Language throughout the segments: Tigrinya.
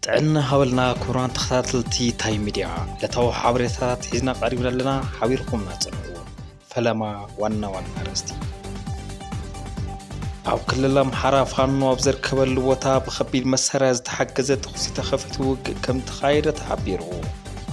ጥዕና ሃበልና ክቡራን ተኸታተልቲ ታይ ሚድያ ዕለታዊ ሓበሬታታት ሒዝና ቀሪብና ኣለና ሓቢርኩምና ፅንዑ ፈለማ ዋና ዋና ኣርእስቲ ኣብ ክልል ኣምሓራ ፋኖ ኣብ ዘርከበሉ ቦታ ብከቢድ መሳርያ ዝተሓገዘ ተኹሲ ተኸፊቱ ውግእ ከም ተኻየደ ተሓቢሩ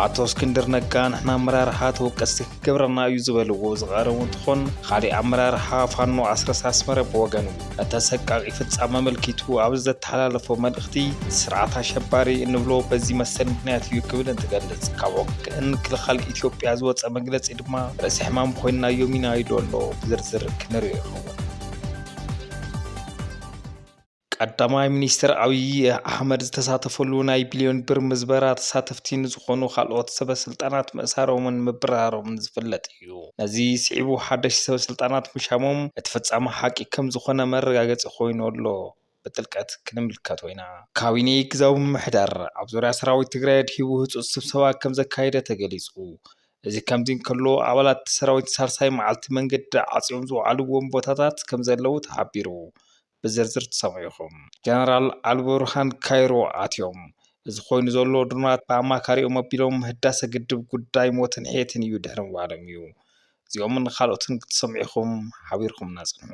ኣቶ እስክንድር ነጋ ንሕና ኣመራርሓ ተወቀስቲ ግብርና እዩ ዝበልዎ ዝቐረቡ እንትኾን ኻሊእ ኣመራርሓ ፋኖ ኣስረስ ኣስመረ ብወገኑ ነቲ ኣሰቃቒ ፍፃመ ኣመልኪቱ ኣብ ዘተሓላለፎ መልእኽቲ ስርዓት ኣሸባሪ እንብሎ በዚ መሰል ምኽንያት እዩ ክብል እንትገልፅ ካብ ኦብክን ክልኻል ኢትዮጵያ ዝወፀ መግለፂ ድማ ርእሰ ሕማም ኾይንናዮም ኢና ኢሉ ኣሎ ብዝርዝር ክንሪኦ ይኸውን። ቀዳማይ ሚኒስትር ኣብዪ ኣሕመድ ዝተሳተፈሉ ናይ ቢልዮን ብር ምዝበራ ተሳተፍቲ ንዝኾኑ ካልኦት ሰበ ስልጣናት ምእሳሮምን ምብርራሮምን ዝፍለጥ እዩ። ነዚ ስዒቡ ሓደሽቲ ሰበ ስልጣናት ምሻሞም እቲ ፍፃመ ሓቂ ከምዝኾነ መረጋገፂ ኮይኑ ኣሎ። ብጥልቀት ክንምልከቶ ኢና። ካቢኔ ግዝያዊ ምምሕዳር ኣብ ዙርያ ሰራዊት ትግራይ ኣድሂቡ ህፁፅ ስብሰባ ከምዘካየደ ተገሊፁ። እዚ ከምዚ እንከሎ ኣባላት እቲ ሰራዊት ንሳልሳይ መዓልቲ መንገዲ ዓፅዮም ዝወዓልዎም ቦታታት ከምዘለዉ ተሓቢሩ። ብዝርዝር ትሰምዑ ኢኹም። ጀነራል ኣልቡርሃን ካይሮ ኣትዮም። እዚ ኮይኑ ዘሎ ዶናት ብኣማካሪኦም ኣቢሎም ህዳሰ ግድብ ጉዳይ ሞትን ሕየትን እዩ ድሕሪ ምባሎም እዩ። እዚኦምን ካልኦትን ክትሰምዑ ኢኹም፣ ሓቢርኩምና ጽንሑ።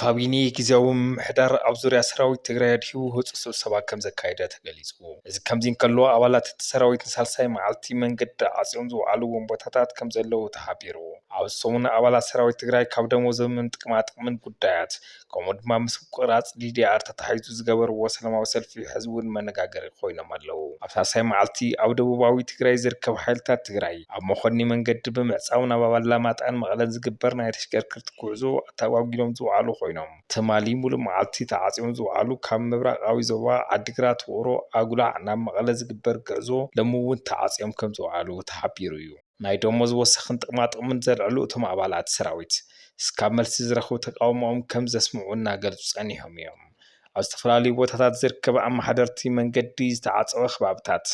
ካቢኔ ግዝያዊ ምምሕዳር ኣብ ዙርያ ሰራዊት ትግራይ ኣድሂቡ ህፁፅ ስብሰባ ከምዘካየደ ተገሊፁ። እዚ ከምዚ እንከሎ ኣባላት እቲ ሰራዊት ንሳልሳይ መዓልቲ መንገዲ ዓፅዮም ዝውዓልዎም ቦታታት ከምዘለዉ ተሓቢሩ። ኣብዚ ሰሙን ኣባላት ሰራዊት ትግራይ ካብ ደሞዞምን ጥቅማጥቅምን ጉዳያት ከምኡ ድማ ምስ ምቁራፅ ዲዲኣር ተተሓሒዙ ዝገበርዎ ሰላማዊ ሰልፊ ሐዚ እውን መነጋገሪ ኮይኖም ኣለዉ። ኣብ ሳልሳይ መዓልቲ ኣብ ደቡባዊ ትግራይ ዝርከብ ሓይልታት ትግራይ። ኣብ መኾኒ መንገዲ ብምዕፃው ናብ ኣብ ኣላማጣን መቐለን ዝግበር ናይ ተሽከርከርቲ ጉዕዞ ኣተኣጓጒሎም ዝውዓሉ ኮይኖም ትማሊ ሙሉእ መዓልቲ ተዓፅዮም ዝውዓሉ ካብ ምብራቓዊ ዞባ ዓዲግራት ውቕሮ ኣጉላዕ ናብ መቐለ ዝግበር ግዕዞ ሎሚ እውን ተዓፅዮም ከምዝውዓሉ ተሓቢሩ እዩ። ናይ ደሞዝ ወሰኽን ጥቕማጥቕምን ዘልዕሉ እቶም ኣባላት ሰራዊት እስካብ መልሲ ዝረኽቡ ተቃውሞኦም ከምዘስምዑ እናገልፁ ፀኒሖም እዮም። ኣብ ዝተፈላለዩ ቦታታት ዝርከባ ኣመሓደርቲ መንገዲ ዝተዓፀወ ከባብታት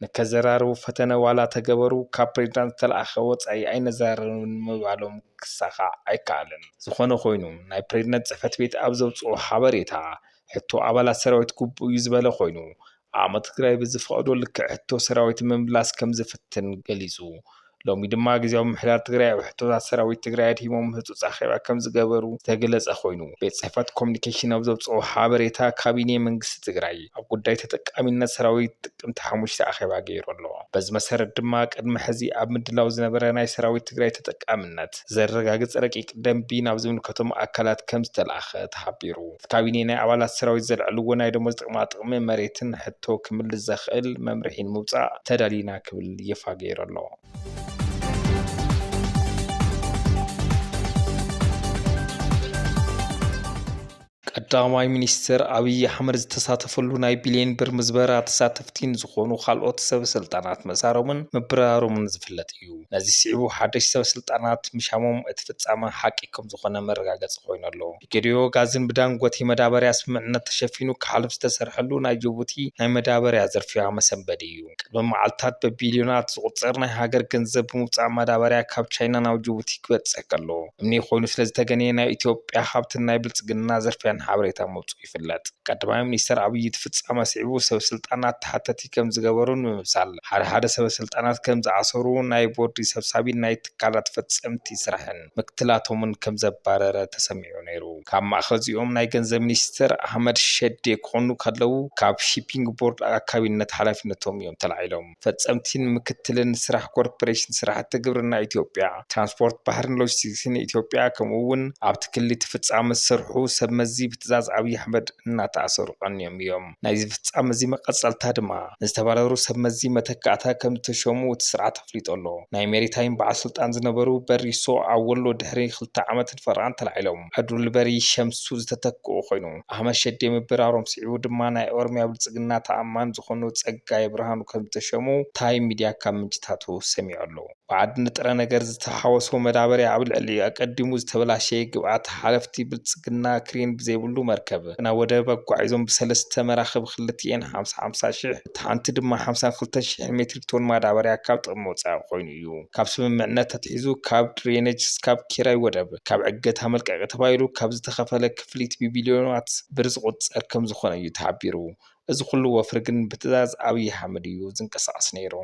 ንከዘራርቡ ፈተነ ዋላ ተገበሩ ካብ ፕሬዚዳንት ዝተልኣኸ ወፃኢ ኣይነዘራርብን ምባሎም ክሳኻዕ ኣይከኣለን። ዝኾነ ኮይኑ ናይ ፕሬዚዳንት ፅሕፈት ቤት ኣብ ዘውፅኦ ሓበሬታ ሕቶ ኣባላት ሰራዊት ግቡእ እዩ ዝበለ ኮይኑ ዓቕሚ ትግራይ ብዝፈቕዶ ልክዕ ሕቶ ሰራዊት ንምምላስ ከምዝፍትን ገሊፁ። ሎሚ ድማ ግዝያዊ ምምሕዳር ትግራይ ኣብ ሕቶታት ሰራዊት ትግራይ ኣድሂቦም ህፁፅ ኣኼባ ከምዝገበሩ ዝተገለፀ ኮይኑ፣ ቤት ፅሕፈት ኮሚኒኬሽን ኣብ ዘውፀኦ ሓበሬታ ካቢኔ መንግስቲ ትግራይ ኣብ ጉዳይ ተጠቃሚነት ሰራዊት ጥቅምቲ ሓሙሽተ ኣኼባ ገይሩ ኣሎ። በዚ መሰረት ድማ ቅድሚ ሕዚ ኣብ ምድላው ዝነበረ ናይ ሰራዊት ትግራይ ተጠቃምነት ዘረጋግፅ ረቂቅ ደንቢ ናብ ዝምልከቶም ኣካላት ከምዝተልኣኸ ተሓቢሩ። እቲ ካቢኔ ናይ ኣባላት ሰራዊት ዘልዐልዎ ናይ ደሞዝ ጥቕማጥቕሚ መሬትን ሕቶ ክምልስ ዘኽእል መምርሒ ንምውፃእ ተዳሊና ክብል ይፋ ገይሩ ኣሎ። ቀዳማይ ሚኒስትር ኣብይ ኣሕመድ ዝተሳተፈሉ ናይ ቢልዮን ብር ምዝበራ ተሳተፍቲ ንዝኾኑ ካልኦት ሰበ ስልጣናት ምእሳሮምን ምብርራሮምን ዝፍለጥ እዩ። እዩ። ነዚ ስዒቡ ሓደሽቲ ሰበስልጣናት ምሻሞም እቲ ፍጻመ ሓቂ ከምዝኾነ መረጋገጺ ኮይኑ ኣሎ። ብጌዴኦ ጋዝን ብዳንጎቴ መዳበርያ ስምምዕነት ተሸፊኑ ክሓልፍ ዝተሰርሐሉ ናይ ጅቡቲ ናይ መዳበርያ ዝርፍያ መሰንበዲ እዩ። ቅድሚ መዓልታት በቢልዮናት ዝቑጸር ናይ ሃገር ገንዘብ ብምውጻእ ማዳበርያ ካብ ቻይና ናብ ጅቡቲ ክበጽሕ ከሎ እምኒ ኮይኑ ስለዝተገንየ ናይ ኢትዮጵያ ሃብትን ናይ ብልጽግና ዝርፍያን ሓበሬታ ምውጽኡ ይፍለጥ። ቀዳማይ ሚኒስተር ኣብይ እቲ ፍጻመ ኣስዒቡ ሰበስልጣናት ተሓተቲ ከምዝገበሩን ብምምሳል ሓደ ሓደ ሰበስልጣናት ከምዝኣሰሩ ናይ ቦርዲ ሰብሳቢን ናይ ትካላት ፈጸምቲ ስራሕን ምክትላቶምን ከምዘባረረ ተሰሚዑ ነይሩ። ካብ ማእከል እዚኦም ናይ ገንዘብ ሚኒስተር ኣህመድ ሸዴ ክኾኑ ከለዉ ካብ ሺፒንግ ቦርድ ኣካቢነት ሓላፊነቶም እዮም ተላዒሎም። ፈፀምቲን ምክትልን ስራሕ ኮርፖሬሽን ስራሕቲ ግብርና ኢትዮጵያ፣ ትራንስፖርት ባሕሪን ሎጂስቲክስን ኢትዮጵያ ከምኡ እውን ኣብቲ ክሊ እቲ ፍፃመ ዝሰርሑ ሰብ መዚ ብትእዛዝ ኣብይ ኣሕመድ እናተኣሰሩ ቀንዮም እዮም። ናይዚ ፍፃመ እዚ መቐፀልታ ድማ ንዝተባረሩ ሰብ መዚ መተካእታ ከምዝተሾሙ እቲ ስርዓት ኣፍሊጡ ኣሎ። ናይ ሜሪታይም በዓል ስልጣን ዝነበሩ በሪሶ ኣወሎ ድሕሪ ክልተ ዓመትን ፈረቓን ተላዒሎም ኣዱልበሪ ሸምሱ ዝተተክኡ ኮይኑ፣ ኣህመድ ሸዴ ምብራሮም ስዒቡ ድማ ናይ ኦሮሚያ ብልፅግና ተኣማኒ ዝኾኑ ፀጋይ ብርሃኑ ከምዝተሸሙ ታይም ሚድያ ካብ ምንጭታቱ ሰሚዑ ኣሎ። ባዕዲ ንጥረ ነገር ዝተሓወሶ መዳበርያ ኣብ ልዕሊ ኣቀዲሙ ዝተበላሸየ ግብኣት ሓለፍቲ ብልፅግና ክሬን ብዘይብሉ መርከብ ናብ ወደብ ኣጓዒዞም ብሰለስተ መራኽብ ኽልቲኤን ሓምሳ ሓምሳ ሺሕ እቲ ሓንቲ ድማ ሓምሳን ክልተን ሽሕን ሜትሪክ ቶን ማዳበርያ ካብ ጥቕሚ ወፃኢ ኮይኑ እዩ። ካብ ስምምዕነት ኣትሒዙ ካብ ድሬነጅ እስካብ ኪራይ ወደብ፣ ካብ ዕገታ መልቀቂ ተባሂሉ ካብ ዝተኸፈለ ክፍሊት ብቢልዮናት ብር ዝቑፀር ከምዝኾነ እዩ ተሓቢሩ። እዚ ኩሉ ወፍሪ ግን ብትእዛዝ ኣብይ ኣሕመድ እዩ ዝንቀሳቐስ ነይሩ።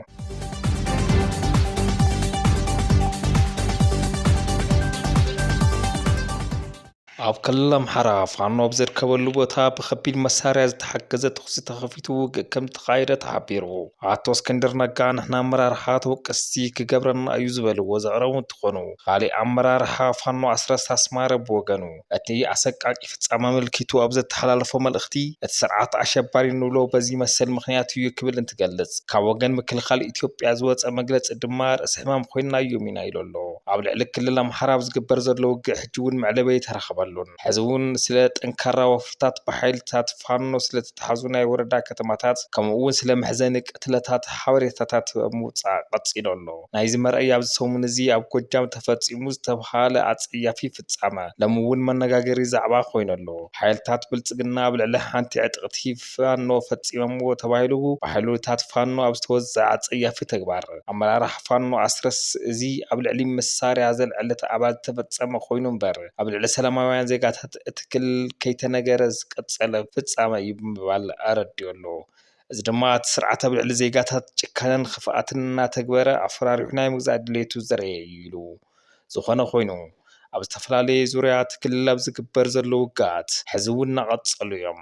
ኣብ ክልል ኣምሓራ ፋኖ ኣብ ዝርከበሉ ቦታ ብከቢድ መሳርያ ዝተሓገዘ ተኹሲ ተኸፊቱ ውግእ ከምዝተኻየደ ተሓቢሩ። ኣቶ እስክንድር ነጋ ንሕና ኣመራርሓ ተወቀስቲ ክገብረና እዩ ዝበልዎ ዘቕረቡ እንትኾኑ፣ ካሊእ ኣመራርሓ ፋኖ ኣስረስ ኣስማረ ብወገኑ እቲ ኣሰቃቂ ፍፃመ ኣመልኪቱ ኣብ ዘተሓላለፎ መልእኽቲ እቲ ስርዓት ኣሸባሪ ንብሎ በዚ መሰል ምኽንያት እዩ ክብል እንትገልፅ ካብ ወገን ምክልኻል ኢትዮጵያ ዝወፀ መግለፂ ድማ ርእሰ ሕማም ኮይንናዮም ኢና ኢሉ ኣሎ። ኣብ ልዕሊ ክልል ኣምሓራ ኣብ ዝግበር ዘሎ ውግእ ሕጂ'ውን መዕለቢ ኣይተረኸበሉን። ሕዚ'ውን ስለ ጠንካራ ወፍርታት ብሓይልታት ፋኖ ስለተታሕዙ ናይ ወረዳ ከተማታት ከምኡ'ውን ስለ መሕዘኒ ቅትለታት ሓበሬታታት ምውጻእ ቀጺሉ ኣሎ። ናይዚ መርኣያ ኣብዚ ሰሙን እዚ ኣብ ጎጃም ተፈጺሙ ዝተብሃለ ኣጸያፊ ፍጻመ ሎሚ'ውን መነጋገሪ ዛዕባ ኮይኑ ኣሎ። ሓይልታት ብልጽግና ኣብ ልዕሊ ሓንቲ ዕጥቕቲ ፋኖ ፈፂመምዎ ተባሂሉ ብሓይሉታት ፋኖ ኣብ ዝተወዘዐ ኣፀያፊ ተግባር ኣመራርሓ ፋኖ ኣስረስ እዚ ኣብ ልዕሊ መሳርያ ዘልዐለት ኣባል ዝተፈፀመ ኮይኑ እምበር ኣብ ልዕሊ ሰላማዊያን ዜጋታት እቲ ክልል ከይተነገረ ዝቀፀለ ፍፃመ እዩ ብምባል ኣረዲኡ ኣሎ። እዚ ድማ እቲ ስርዓት ኣብ ልዕሊ ዜጋታት ጭካነን ኽፍኣትን እናተግበረ ኣፈራሪሑ ናይ ምግዛእ ድሌቱ ዘርእየ እዩ ኢሉ። ዝኾነ ኾይኑ ኣብ ዝተፈላለየ ዙርያ እቲ ክልል ኣብ ዝግበር ዘሎ ውግኣት ሕዚ እውን እናቐፀሉ እዮም።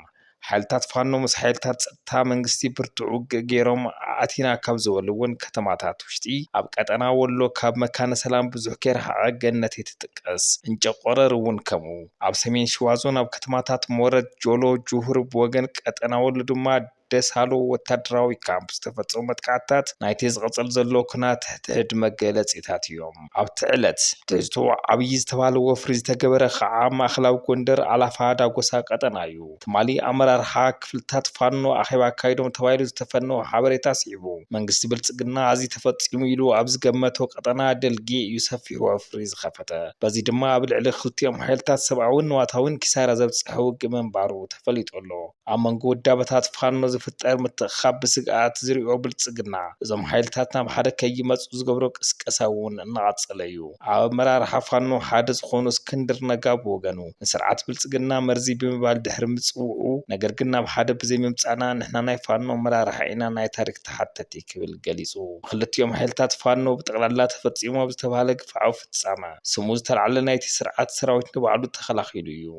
ሓይልታት ፋኖ ምስ ሓይልታት ፀጥታ መንግስቲ ብርቱዕ ውግእ ገይሮም ኣእቲና ካብ ዝበልወን ከተማታት ውሽጢ ኣብ ቀጠና ወሎ ካብ መካነ ሰላም ብዙሕ ከይረሓቐ ገነቴ ትጥቀስ። እንጨቆረር እውን ከምኡ። ኣብ ሰሜን ሽዋ ዞን ኣብ ከተማታት ሞረት፣ ጆሎ፣ ጁሁር ብወገን ቀጠና ወሎ ድማ ደሳሎ ወታደራዊ ካምፕ ዝተፈጸሙ መጥቃዕትታት ናይቲ ዝቕጽል ዘሎ ኵናት ሕድሕድ መገለጺታት እዮም። ኣብቲ ዕለት፣ ትሕዝቶ ዓብዪ ዝተባህለ ወፍሪ ዝተገበረ ኸኣ ማእኸላዊ ጎንደር ኣላፋ ዳጎሳ ቀጠና እዩ። ትማሊ ኣመራርሓ ክፍልታት ፋኖ ኣኼባ ኣካይዶም ተባሂሉ ዝተፈነወ ሓበሬታ ስዒቡ፣ መንግስቲ ብልጽግና እዚ ተፈጺሙ ኢሉ ኣብ ዝገመቶ ቀጠና ደልጊ እዩ ሰፊሕ ወፍሪ ዝኸፈተ። በዚ ድማ ኣብ ልዕሊ ክልቲኦም ሓይልታት ሰብኣዊን ንዋታዊን ኪሳራ ዘብጽሐ ውግእ ምንባሩ ተፈሊጡ ኣሎ። ኣብ መንጎ ውዳበታት ፋኖ ዝፍጠር ምትእኽኻብ ብስግኣት ዝሪኦ ብልፅግና እዞም ሓይልታት ናብ ሓደ ከይመፁ ዝገብሮ ቅስቀሳ እውን እናቐፀለ እዩ። ኣብ ኣመራርሓ ፋኖ ሓደ ዝኾኑ እስክንድር ነጋ ብወገኑ ንስርዓት ብልፅግና መርዚ ብምባል ድሕሪ ምፅውዑ ነገር ግን ናብ ሓደ ብዘይምምፃእና ንሕና ናይ ፋኖ ኣመራርሓ ኢና ናይ ታሪክ ተሓተቲ ክብል ገሊፁ። ብክልቲኦም ሓይልታት ፋኖ ብጠቕላላ ተፈፂሙ ኣብ ዝተብሃለ ግፍዓዊ ፍፃመ ስሙ ዝተልዓለ ናይቲ ስርዓት ሰራዊት ንባዕሉ ተኸላኺሉ እዩ።